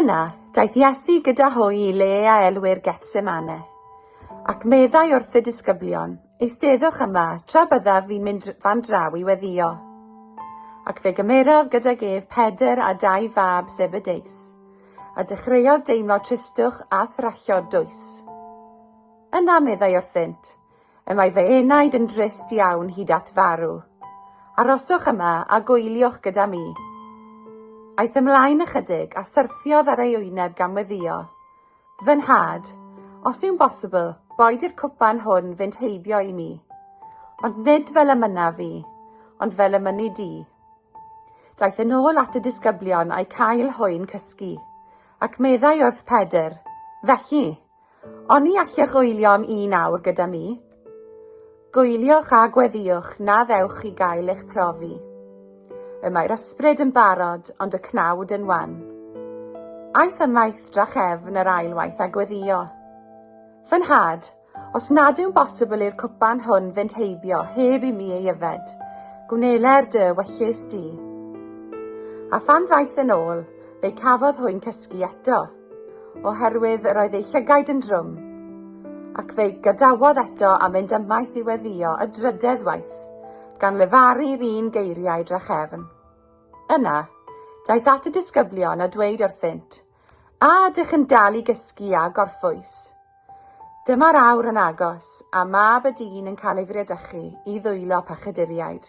Yna, daeth Iesu gyda hwy i le a elwir Gethsemane, ac meddai wrth y disgyblion, Eisteddwch yma, tra byddaf fi'n mynd fan draw i weddio. Ac fe gymerodd gydag ef Pedr a dau fab Zebedeus, a dechreuodd deimlo tristwch a thrallod dwys. Yna meddai wrthynt, Y mae fy enaid yn drist iawn hyd at farw. Aroswch yma a gwyliwch gyda mi. Aeth ymlaen ychydig a syrthiodd ar ei wyneb gan weddio. Fy nhad, os yw'n bosibl, boed i'r cwpan hwn fynd heibio i mi. Ond nid fel y mynaf fi, ond fel y mynnu di. Daeth yn ôl at y disgyblion a'i cael hwy'n cysgu, ac meddai wrth Pedr, Felly, Oni allech goelio'n un awr gyda mi? Goeliwch a gweddiwch na ddewch chi gael eich profi. Y mae'r ysbryd yn barod, ond y cnawd yn wan. Aeth am waith drachefn yr ail waith a gweddio. Fy nhad, os nad yw'n bosibl i'r cwpan hwn fynd heibio heb i mi ei yfed, gwnelai'r dy wyllus di. A phan ddaeth yn ôl, fe cafodd hwy'n cysgu eto. oherwydd yr oedd ei llygaid yn drwm, ac fe'i gadawodd eto a mynd ymaith i weddio y drydedd waith, gan lefaru'r un geiriau drachefn. Yna, daeth at y disgyblion a dweud wrthynt, A ydych yn dal i gysgu a gorffwys? Dyma'r awr yn agos, a mab y dyn yn cael ei friedychu i ddwylo pachyduriaid.